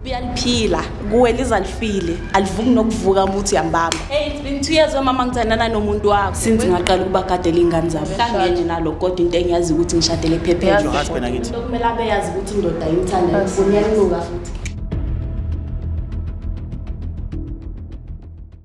Uyaliphila kuwe lizalifile alivuki nokuvuka umuthi yambamba. Hey it's been 2 years wemama ngithandana nomuntu wakho. Since ngaqala ukuba gadela ingane zabo. Kangenye nalo kodwa into engiyazi ukuthi ngishadele phephe nje. Husband akithi. Kumele abe yazi ukuthi indoda imthanda ngifuna yanuka futhi.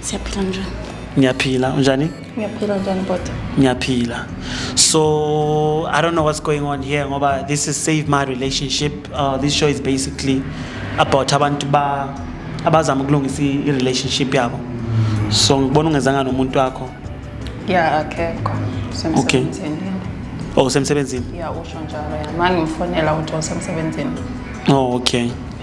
siyaphila njani ngiyaphila unjani ngiyaphila njani bota ngiyaphila so i don't know what's going on here ngoba this is save my relationship uh, this show is basically about abantu ba abazama ukulungisa i-relationship yabo so ngibona ungezanga nomuntu wakho ya akekho okay oh usemsebenzini ya usho njalo ya mangimfonela ukuthi usemsebenzini oh okay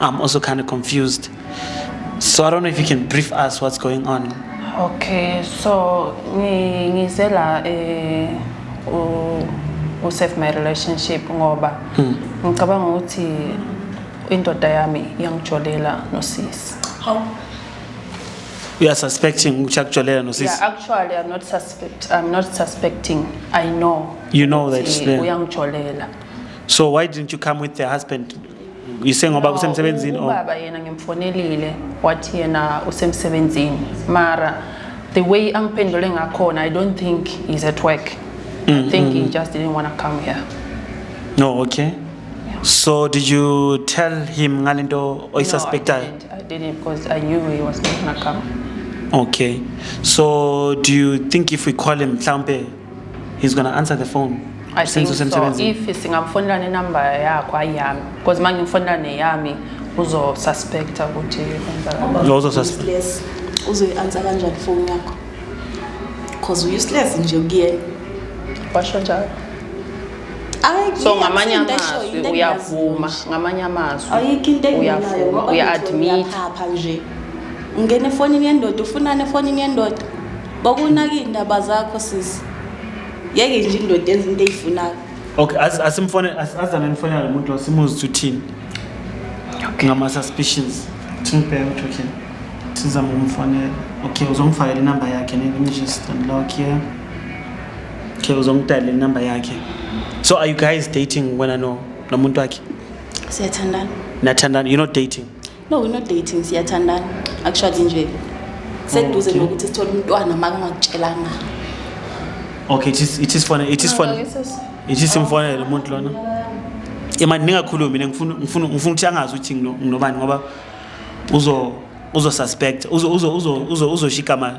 I'm also kind of confused. So I don't know if you can brief us what's going on. Okay, so ngi- ngize la eh u u save my relationship ngoba ngicabanga ukuthi indoda yami yangijolela nosisi. You are suspecting ukuthi akujolela no sis. Yeah, actually I'm not suspect I'm not suspecting. I know. You know that, ukuthi yeah. Uyangijolela. So why didn't you come with the husband yise ngoba kusemsebenzini oh. ubaba yena ngimfonelile wathi yena usemsebenzini mara the way angiphendule ngakhona i don't think he's at work mm, i think mm. he just didn't want to come here no oh, okay yeah. so did you tell him ngalento oyisuspectayo no, I, I didn't because i knew he was not going to come okay so do you think if we call him mhlawumbe He's gonna answer the phone. I think so. If singamfonela nenumber yakho ayami. Because manje ngifonela neyami uzo suspect ukuthi kwenzakala. Uzo suspect. Uzo answer kanjani phone yakho? Because useless nje kuyena. Basho njalo. so ngamanye amazwi uyavuma ngamanye amazwi uyavuma uya-admit nje ungena efonini yendoda ufunani efonini yendoda Bokunaka indaba zakho sisi. Yeke nje indoda enza into eyifunayo. Okay, as asimfone azame nifonela lo muntu simuzi ukuthi uthini. Okay. Ngama suspicions. Thingibheke ukuthi uthini. Sizama ukumfonela. Okay, uzongifakela inamba yakhe ne let me just unlock here. Okay, uzongidala inamba yakhe. So are you guys dating wena no nomuntu wakhe? Siyathandana. Nathandana, you're not dating. No, we're not dating, siyathandana. Akushadi nje. Seduze Okay. nokuthi sithole umntwana makungakutshelanga. Okay, it is it is funny. It is funny. Ngeke sisi. It is imfonele umuntu lona. Imani ningakhulumi mina ngifuna ngifuna ngifuna ukuthi angazi ukuthi ngino- nginobani ngoba uzo uzo suspect uzo uzo uzo uzo uzoshika mali.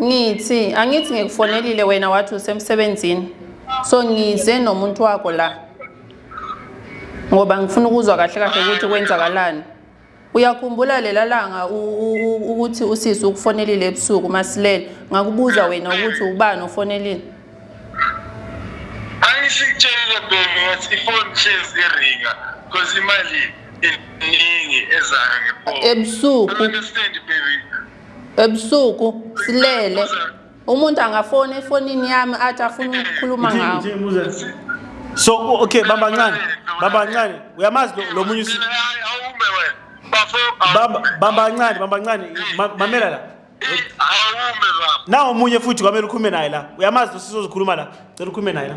Ngithi angithi ngikufonelile wena wathi usemsebenzini. So ngize nomuntu wakho la. Ngoba ngifuna ukuzwa kahle kahle ukuthi kwenzakalani. Uyakhumbula lela langa ukuthi usisi ukufonelile ebusuku masilele. Ngakubuza wena ukuthi ubani ofonelile. Angisitshele baby ngathi ifoni shezi iringa because imali iningi ezayo ngephone. Ebusuku. Understand baby. ebusuku silele umuntu angafona efonini yami athi afuna ukukhuluma ngawo so okay bamba ncane bamba ncane uyamazi lo munye bamba ncane bamba ncane mamela la nawo omunye futhi kwamele ukhume naye la uyamazi lo sizozikhuluma la cela ukhume naye la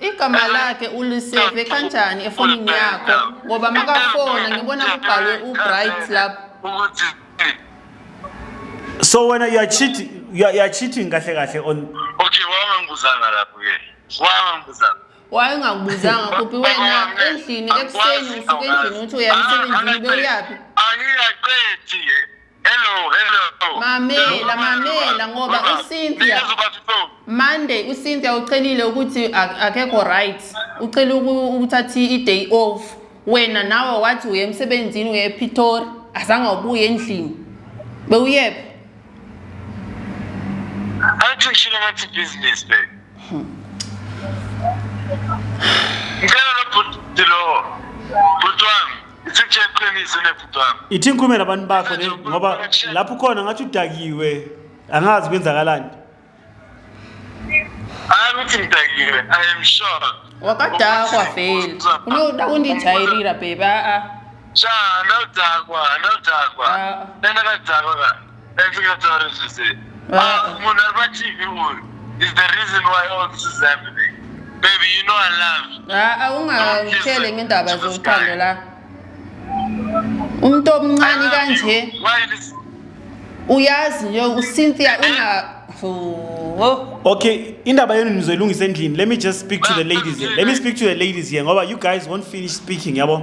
igama lakhe uliseve kanjani efonini yakho ngoba makafona ngibona kubhalwe ubright lapho so wena you are cheating you are, you are cheating kahle kahle on okay wangangibuzanga lapho ke wangangibuzanga wayengakubuzanga kuphi wena endlini ekuseni usuke endlini uthi uyamsebenzini bewuyaphi angiyaqethi Hello, hello. Mamela, mamela ngoba uCynthia Monday uCynthia ucelile ukuthi akekho right. Ucele ukuthatha i-day off. Wena nawe wathi uye emsebenzini uye ePitori, azange ubuye endlini. Bewuyephi? Athi ngishilo ngathi business le. Hmm. Ngicela lo bhuti lo. Bhuti wami. Ithi iqiniso nebhuti wami. Ithi ngikhulume nabantu bakho ne ngoba lapho ukhona ngathi udakiwe angazi kwenzakalani. Hayi ukuthi ngidakiwe I am sure. Wakadakwa vele. Unoda undijayirira baby a a. Cha anodakwa anodakwa. Ah. Lena kadakwa ka. Efikatari sisi. Wow. Ah, Munarba TV uyu is the reason why all this is happening. Baby, you know I love you. Ah, ah, ungangitsheli ngendaba zothando la umuntu omncane kanje uyazi nje uCynthia una Okay, indaba yenu nizoyilungisa endlini. Let me just speak to the ladies here. Let me speak to the ladies here ngoba you guys won't finish speaking, yabo.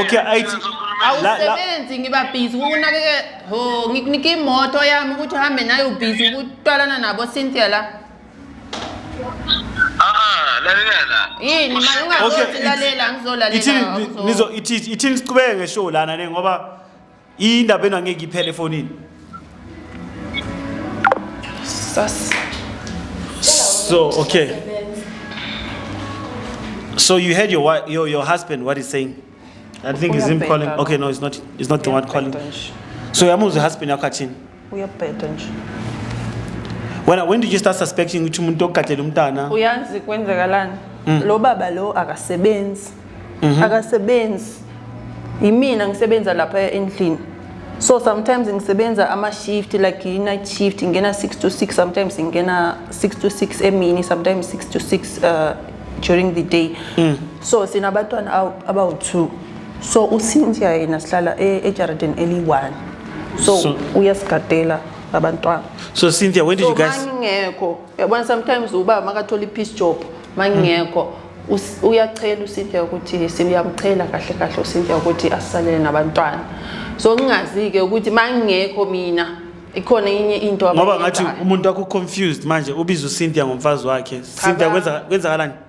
Okay, ayithi la- la- awusebenzi ngiba busy ukunakekela ho ngikunika imoto yami ukuthi uhambe nayo busy ukutwalana nabo Cynthia la Ah, lalela la. yini manje Okay, ungazothi ithi- lalela ngizolalela ithini awuzo- nizo ithi- ithini siqhubeke ngeshow lana ne ngoba indaba ena ngeke iphele efonini sas so okay so you heard your wife, your, your husband what he's saying i think he's him calling okay no it's not it's not the one calling so yamuzwa ihusband yakho athini uyabheda nje wena when did you start suspecting ukuthi umuntu ogadlela umntana uyazi kwenzekalani mm. lo baba lo akasebenzi mm -hmm. akasebenzi yimina ngisebenza lapha endlini so sometimes ngisebenza ama-shift like i-night shift ngingena 6 to 6 sometimes ngingena 6 to 6 emini sometimes 6 to 6 uh, during the day mm. so sinabantwana abawu-two so uCynthia yena sihlala e- ejaridini eliyi-one so, So- uyasigadela abantwana So Cynthia, when did so you guys? mangingekho yabona sometimes ubaba makathola i-peace job mangingekho us- uyachela uCynthia ukuthi siyamchela kahle kahle uCynthia ukuthi asisalele nabantwana so ngingazi-ke ukuthi mangingekho mina ikhona enye into ngoba ngathi abayenzayo. umuntu wakho confused manje ubiza uCynthia ngomfazi wakhe Cynthia Cha, kwenza kwenzakalani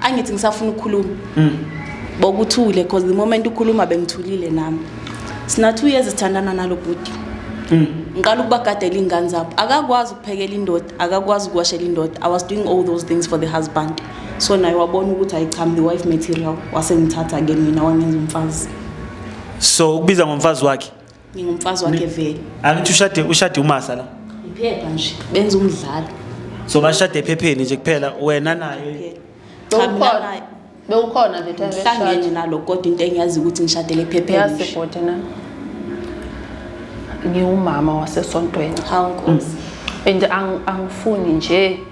angithi ngisafuna ukukhuluma mm. bokuthule because the moment ukhuluma bengithulile nami sina two years sithandana nalo bhuti mm. ngiqala ukubagadela iy'ngane zabo akakwazi ukuphekela indoda akakwazi ukuwashela indoda i was doing all those things for the husband so naye wabona ukuthi ayicham the wife material wasengithatha-ke mina wangenza umfazi so ukubiza ngomfazi wakhe ngingumfazi wakhe vele angithi ushade ushade umasa la iphepha nje benza umdlalo so bashade ephepheni nje kuphela wena naye cha mina Bewukhona. naye bewukhona the time ngihlangene eshada nalo kodwa into engiyazi ukuthi ngishadele ephepheni yazi nje. bhuti na ngiwumama wasesontweni hawu nkosi and ang- angifuni nje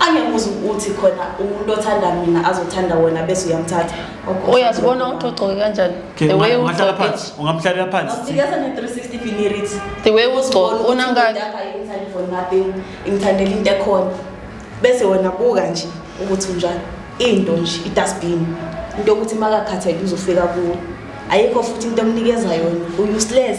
angemuzi ukuthi khona umuntu othanda mina azothanda wona bese uyamthatha uyazibona uxoxoke kanjani the way ungamhlalela phansi sikeza ne 360 finirits the way uzigcoka unangani imthandela into ekhona bese wena buka nje ukuthi unjani into nje idustbin into yokuthi makakhathele uzofika kuwo ayikho futhi into emnikeza yona useless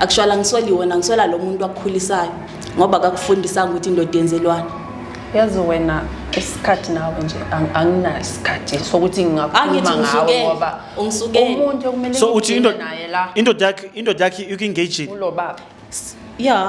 Actually angisweli wena ngiswela lo muntu wakukhulisayo ngoba kakufundisanga ukuthi indoda yenzelwani. Yazi wena isikhathi nawe nje ang- anginayo isikhathi sokuthi ngingakhuluma Angithi ngawe ungisukele, ngoba ungisukele. umuntu okumele so uthi ngigcine indoda naye la indoda yakhe indoda yakhe iku-engagile kulo baba. Yeah,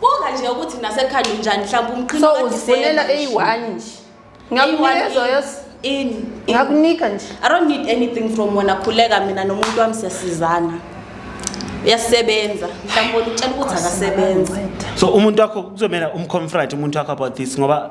Buka nje ukuthi nasekhanda unjani mhlawumbe umqhino so uzifunela eyi-one nje ngakunikeza yos ini ngakunika nje i don't need anything from wena khuleka mina nomuntu wami siyasizana uyasebenza mhlawumbe utshela ukuthi akasebenzi so umuntu wakho kuzomela umconfront umuntu wakho about this ngoba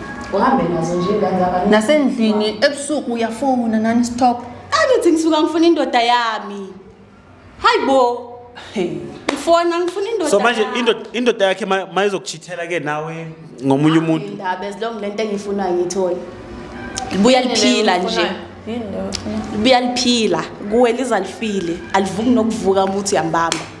uhambe nazo nje ingane zabanye nasendlini ebusuku uyafona nani stop angithi ngisuka ngifuna indoda yami hayi bo ngifona ngifuna indoda so manje yami. indoda indoda yakhe ma- mayizokuchithela ke nawe ngomunye umuntu indaba as long lento engiyifunayo ngiyithole libuya liphila nje Yini leyo? libuya liphila kuwe lizalifile alivuki nokuvuka umuthi uyambamba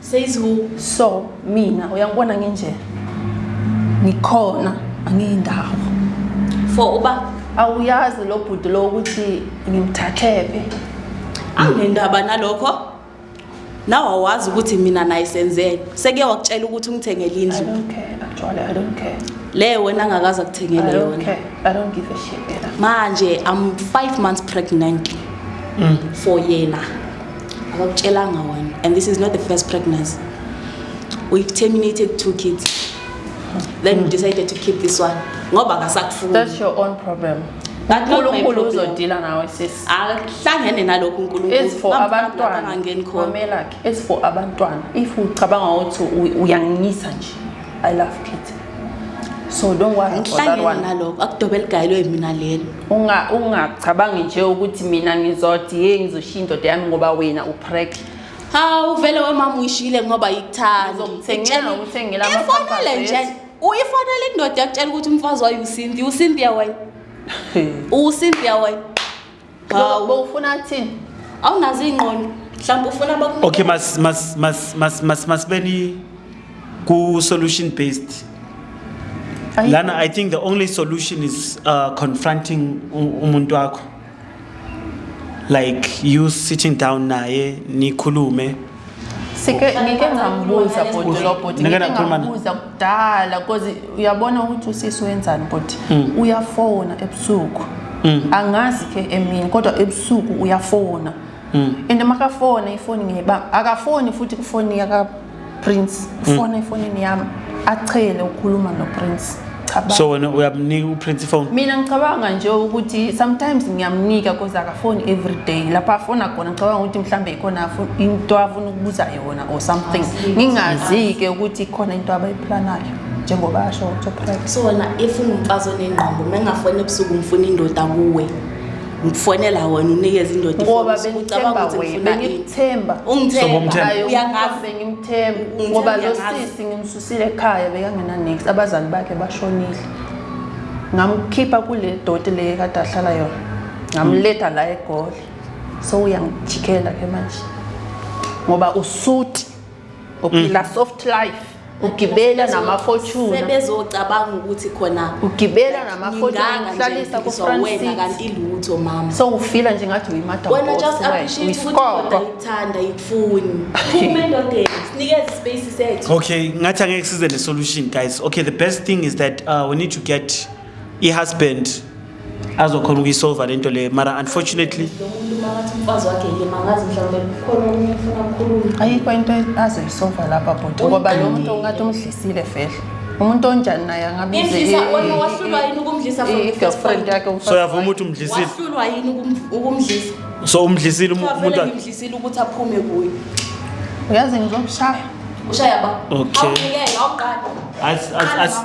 says who so mina uyangibona nginje ngikhona angiyindawo for uba awuyazi lo bhuti lo ukuthi ngimthathephi angendaba nalokho nawe awazi ukuthi mina naye senzeni sekuye wakutshela ukuthi ungithengele indlu leyo wena angakazi akuthengele yona manje i'm five months pregnant mm. for yena akakutshelanga wena and this is not the first pregnancy we terminated two kids then mm. we decided to keep this one ngoba akasakufuni that's your own problem unkulunkulu uzodila nawe sisi akuhlangene nalokhu unkulunkulu abantwana angangeni khona if ucabanga ukuthi uyangisa nje I love Kitty. So don't worry about that one. Nalokho akudobe ligayelwe mina lelo. Unga ungacabangi nje ukuthi mina ngizothi hey ngizoshiya indoda yami ngoba wena uprek. Hawu vele wemama uyishile ngoba yikuthanda. Ngizomthengela ngithengela ama Ifonele nje. Uyifonele indoda yakutshela ukuthi umfazi wayo uSinti, uSinti yawayi. uSinti yawayi. Hawu bowufuna thini? Awunazo ingqondo. Mhlawumbe ufuna baku Okay mas mas mas mas mas masibeni ku solution based. Lana I think the only solution is uh, confronting u- umuntu wakho. Like you sitting down naye nikhulume sike ngike ngambuza bhuti lo bhuti Ngike ngike nakhuluma naye. ngambuza kudala cause uyabona ukuthi usisi wenzani bhuti Mm. uyafona ebusuku angazi ke emini kodwa ebusuku uyafona Mm. and makafona ifoni ngiyibamba akafoni futhi kufoni yaka prince ufona efonini yami achele ukukhuluma noPrince Cabanga. so wena uyamnika uPrince phone mina ngicabanga nje ukuthi sometimes ngiyamnika cause akafoni every day lapho afona khona ngicabanga ukuthi mhlawumbe ikhona afu- into afuna ukubuza yona or something ngingazi-ke ukuthi ikhona into abayiplanayo njengoba asho ukuthi uprivate so wena if ungumfazi onengqondo uma engafoni ebusuku ngifuna indoda kuwe ngifonela wena unikeza indoda ngoba bengicabanga ukuthi ngifuna ngikuthemba ungithemba uyangazi bengimthemba ngoba lo sisi ngimsusile ekhaya bekangena next abazali bakhe bashonile ngamkhipha kule doti le kade ahlala yona ngamletha la egoli so uyangijikela ke manje ngoba usuti uphila mm. soft life ugibela namafortune sebezocabanga ukuthi khona ugibela namafortune uhlalisa ku France wena kanti lutho mama so ufila nje ngathi uyimadam wena just appreciate ukuthi kodwa ithanda ikufuni phuma endodeni sinikeze space sethu okay ngathi angeke size ne solution guys okay the best thing is that uh, we need to get ihusband azokhona ukuyisolva lento le mara unfortunately ayikho into azoyisolva lapha bhuti ngoba lo muntu ungathi umdlisile fehle umuntu onjani naye angabize-girlfriend yakhe so yavuma ukuthi umdlisile wahlulwa yini ukum- ukumdlisa so umdlisile um- umuntu Kufanele wakhe ngimdlisile ukuthi aphume kuye uyazi ngizokushaya ushaya ba Okay. awunikele awuqali As- as- as-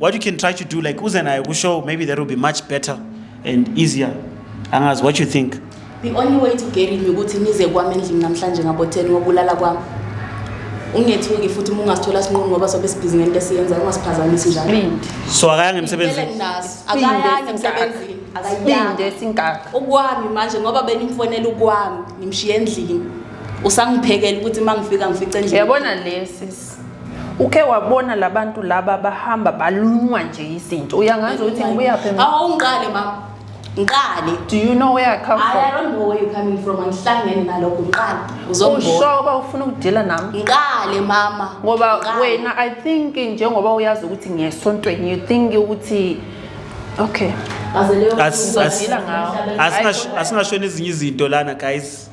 what you can try to do like uze naye kushow maybe that will be much better and easier angazi what you think the only way to get it ukuthi nize kwami endlini namhlanje ngabo 10 ngokulala kwami ungethuki futhi uma ungasithola sinqunu ngoba sobe sibhizi ngento esiyenza ungasiphazamisi njalo so akayanga emsebenzini naso akayanga emsebenzini akayanga esinkaka ukwami manje ngoba benimfonela ukwami ngimshiye endlini usangiphekela ukuthi uma ngifika ngifice endlini yabona lesi uke wabona labantu laba bahamba balunywa nje izinto uyangazi ukuthi ngibuyaphi mina awungiqale mama ngiqale do you know where i come from i don't know where you coming from angihlangene nalokho ngiqale uzongibona usho ba ufuna ukudila nami ngiqale mama ngoba wena i think njengoba uyazi ukuthi ngiyesontweni you think ukuthi okay asingasho nezinye izinto lana guys